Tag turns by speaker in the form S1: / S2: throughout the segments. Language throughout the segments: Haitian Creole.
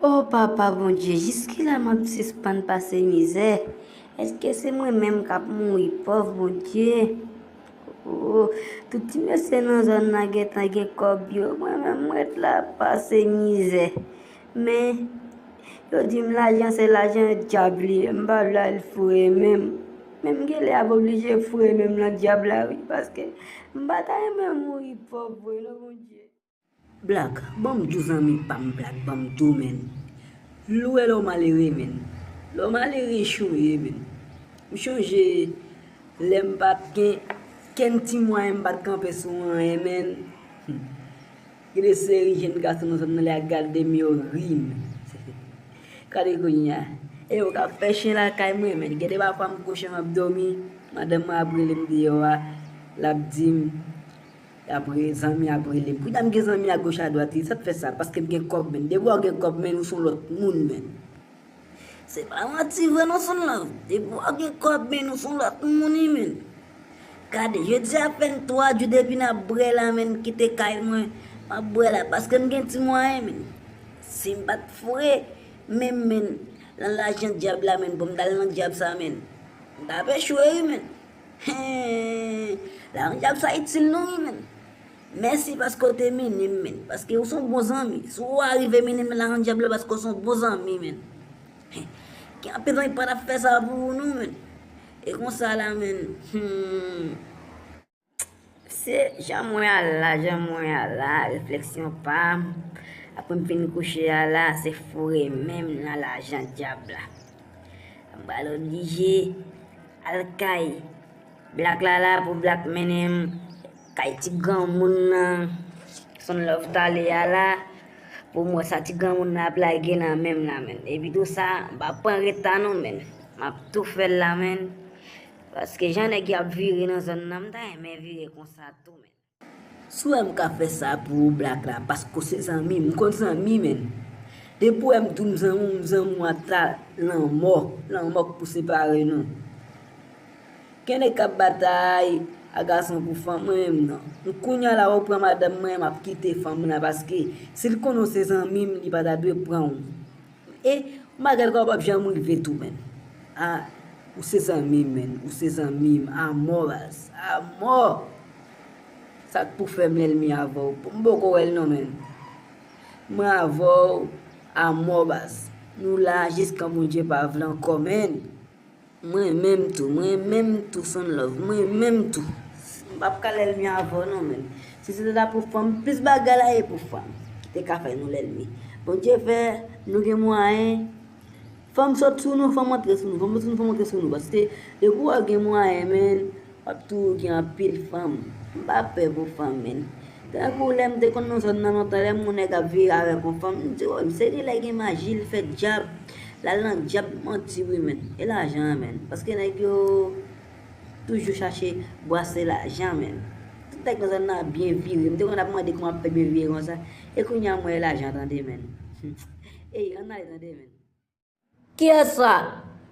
S1: O papa Bondye, jiskilè map sispann pase mizè? Eske se mwen menm kap mouri pòv Bondye? Ooh tout ti mesye nan zòn nan gentan gen kòb yo mwen menm m ret la ap pase mizè men yo di m lajan se lajan dyab li ye m pa vle al foure men m men m genlè ap oblije foure men m nan dyab la wi paske m pa ta renmen mouri pòv vre non Bondye. Black
S2: banm dou zanmi pam black banm dou menn vle wè lèw malere menn lèw malere chou ye menn m chonje lèm pat gen kenn ti mwayen m pat kanpe sou anyen menn humm gen de seri jenn gason nan zòn nan lè ya gadem yo rim gade kounya eyo kap fè chen lakay mwen menn gen de pafwa m kouche map domi madanm mwen ap relem deyò a lap dim. Apre zanmi ap rele m. Kounya m gen zanmi a goch a dwat wi sa k fè sa paske m gen kòb menn depi wè w gen kòb menn ou son lòt moun menn. Se pa manti vre non son love depi wè w gen kòb menn ou son lòt moun wi menn. Gade jodi a fè n 3 jou depi n ap bwè la menn kite kay mwen m ap bwè la paske m gen ti mwayen menn. Si m pa t foure menm menn lan lajan dyab la menn pou m t al nan dyab sa menn m t ap echwe wi menn. Hee lajan dyab sa itil nou wi menn Mèsi paske w te mini m menn paske ou son bon zanmi si w arive mini m lajan dyab la paske w son bon zanmi menn Gen anpil zanmi ki pa tap fè sa pou ou non menn E konsa la menn humm.
S1: Se jan mwen a la, jan mwen a la, refleksyon pa m, apre m fin kouche a la, se foure men m nan lajan dyab la. M pral oblije al kay Blak la la pou Blak mennen m kay ti granmoun nan, Son Love t ale a la, pou m wè sa ti granmoun nan ap lage nan men m la menn. Epitou sa, m pa pran reta non menn, m ap tou fè l la menn. Paske jan nèg yo ap vire nan zòn nan mta renmen vire konsa tou menn. Si w wè m ka
S2: fè sa pou ou black la paske w se zanmi m, m konn zanmi menn. Depi w wè m di w m zanmi w m zanmi w ata lanmò, lanmò k pou separe nou. Gen nèg k ap batay a gason pou fanm mwen menm non. Kounya la ou pran madanm mwen m ap kite fanm nan paske si l konnen w se zanmi m li pa ta dwe pran w. E magal ka ou pap janm rive tou menn ah ou se zanmim menn ou se zanmim amò baz amò sak pou fèm lèlmi avèw m poko wèl non menn mwen avèw amò baz nou la jiskan Bondye pa vle ankò menn. M renmenm tou m renmenm tou fèm love m renmenm tou m pap ka lèlmi avèw non menm si se te ta pou fanm plis bagay la ye pou fanm ki te ka fè nou lèlmi Bondye fè nou gen mwayen fanm sot sou nou fanm antre sou nou fanm sot sou nou fanm antre sou nou paske depi wè gen mwayen menn Wap tou gen anpil fanm. M pa pè pou fanm men. Tankou lè m te konn nan zòn nan lontan lè m wè yon nèg ap vire avèk yon fanm m di oh se li lè gen maji li fè djab lal nan djab manti wi menn e lajan an menn paske nèg yo toujou chache bwase lajan menn tout nèg nan zòn nan ap byen vire m te konn ap mande kòman ap fè byen vire konsa e kounya m wè e lajan tande menn ey ann ale tande menn. Kiyès
S1: la?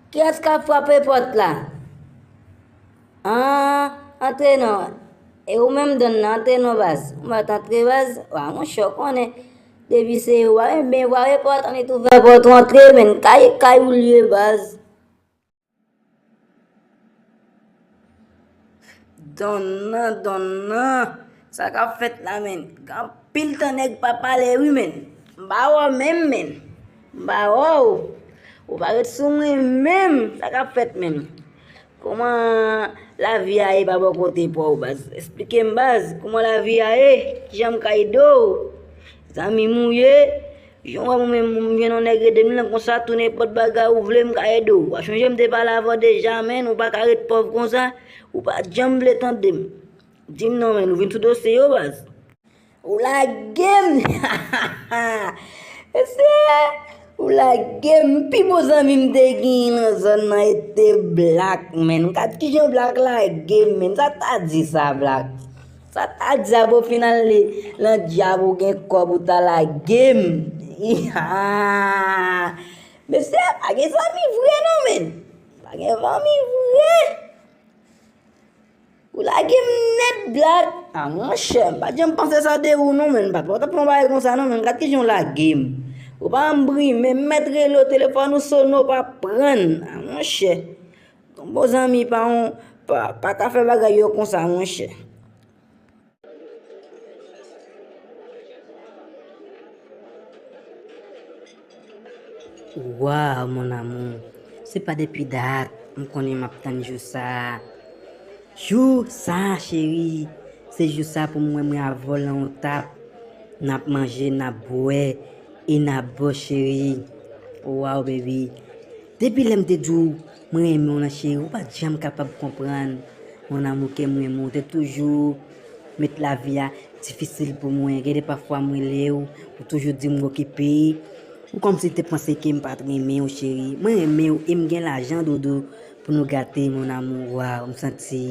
S1: Kiyès k ap frape pòt la? An, antre non. E ou menm Don nan, antre non baz. Ou mèt antre baz. Wa monchè, ou konnen. Depi se ou a, enben frape pòt, ann e t ouvè pòt ou antre menn. Kay, kay ou l ye baz.
S2: Don nan, don nan, sa kap fèt la menn? Gen anpil tan nèg pa pale wi menn. M pa wè w menm menn. M pa wè w. Ou pa ret sou mwen menm. Sa k ap fèt menm? Kouman lavi a ye pa bò kote pa w baz? Esplike m baz, kouman lavi a ye? Ki jan m ka ede w? Zanmi m ou ye? Jan w wè mwen menm, m gen yon nèg rete m lan konsa, tou nenpòt bagay ou vle m ka ede w. Wa chonje m te pale avan deja menn, ou pa ka ret pòv konsa, ou pa janm vle tande m. Di m non menn, ou vin sou dosye yo baz? Ou lage m! Ha ha ha! Mesye! Ou lage m! Pi bon zanmi m te genyen nan zòn nan e te Blak menn. Gad kijan Blak lage m menn, sa k ta di sa Blak? Sa ta diab ou fin ale lan diab ou gen kob ou ta lagem iihaa mesye pa gen zanmi vre non menn pa gen zanmi vre ou lagem nèt black a monchè m pat janm panse sa de ou non menn m pat wè w tap fè yon bagay konsa non menn gad kijan w lagem ou pa
S1: janm brimen m mèt rele w telefòn ou sone w pa prann a monchè. Bon zanmi pa yon pa ka fè bagay yo konsa monchè. Waw mon amour se pa depi dat m konnen map tann jou sa Jou sa chérie se jou sa pou m wè mwen avèw lan yon tap nap manje nap bwè e nap bo chérie waw baby Depi lèm te diw mwen renmen w lan cheri ou pat janm kapab konprann mon amour kem renmen w te toujou met lavi a difisil pou mwen gen de pafwa m relew ou toujou dim ou okipe ou komsi te panse kem pat renmen w cheri mwen renmen w em gen lajan dodo pou nou gate mon amour waw m santi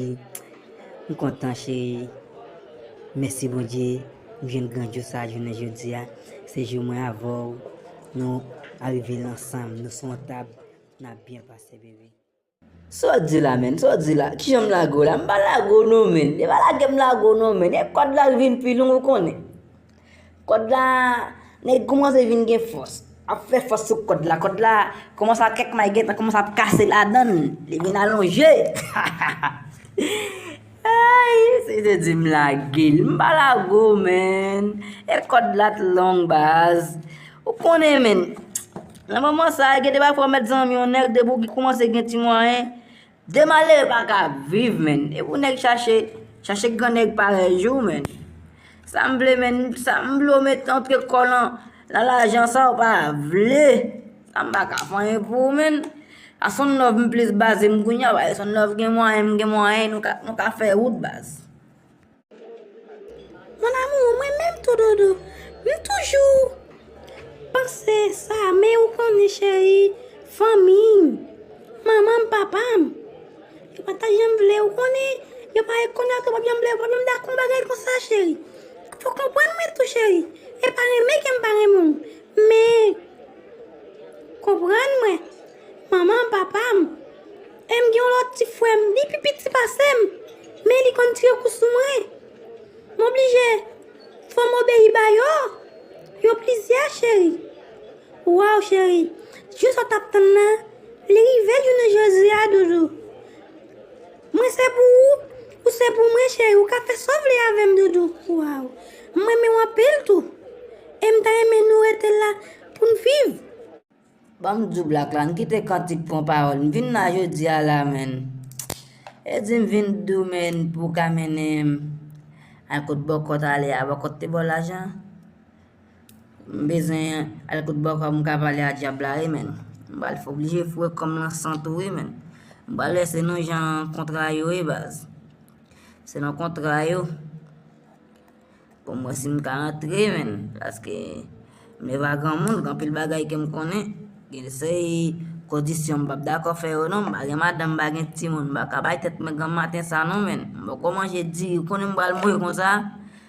S1: m kontan cheri mèsi bondye m jwenn gran jou sa jounen jodia se jou mwen avèw. Nou arive nan sanm nou sou yon tab nap byen pase baby. Sa w di la menn, sa w di la, kijan m lage w la, m pa lage w non menn, e pa lage m lage w non menn, e kòd la vin pi long ou konnen. Kòd la, nèg koumanse vin gen fòs, ap fè fòs sou kòd la, kòd la koumanse ap kèk may gentan koumanse ap kase ladan l, li vin alonje. Eyy si se di m lage l m pa lage w menn e kòd la t long baz ou konnen menn nan moman sa gen de bagay fò w mèt zanmi yon nèg depi w kòmanse gen ti mwayen de malere pa ka viv menn e pou nèg chache chache gran nèg parèy ou menn sa m vle menn sa m vle w mèt antre kò w nan lajan sa w pa vle. Sa m pa ka vanyen pou ou menn. A Son Nov m plis baze m kounye a paske Son Nov gen mwayen m gen mwayen nou ka fè wout baz. Mon amour mwen menm tou dodo m toujou panse sa men ou konnen cheri fanmi m manman m papa m yo pa ta janm vle ou konnen yo pa janm konnen yo pa janm vle ou pa janm dakò bagay konsa cheri fò w konprann mwen tou cheri e pa renmen ke m pa renmen w. Men, konprann mwen, manman m, papa m, e m gen yon lòt ti frè m, li pi piti pase m, men li konn tire kou sou mwen. M oblije fò m obeyi ba yo, yo plizyè cheri. Waw cheri, jou sa w t ap tann nan, li rive jounen jodi a doudou. Mwen se pou ou, ou se pou mwen cheri ou ka fè sa w vle avè m doudou waww m renmen w anpil tou e m ta renmen nou rete la pou n viv. Banm djoublak la, n kite kantik pran pawòl, m vin la jodi a la menn e di m vin dou menn pou w ka mennen m al kot bòkòt ale a, bòkòt te ba w lajan? M bezwen al kout bòkò m ka pale a dyab la wi menn. M pral fè oblije foure kò m lan san tou wi menn. M pral wè se nou jan kontra yo ye baz. Se nou kontra yo. Pou m wè si m ka antre menn. Paske m leve a granmoun, gen anpil bagay ke m konnen. Gen seri kondisyon m p ap dakò fè yo non. M pa gen madanm, m pa gen timoun. M pa ka bay tèt mwen granm maten sa non menn. M poko manje diri, ou konnen m pral mouri konsa.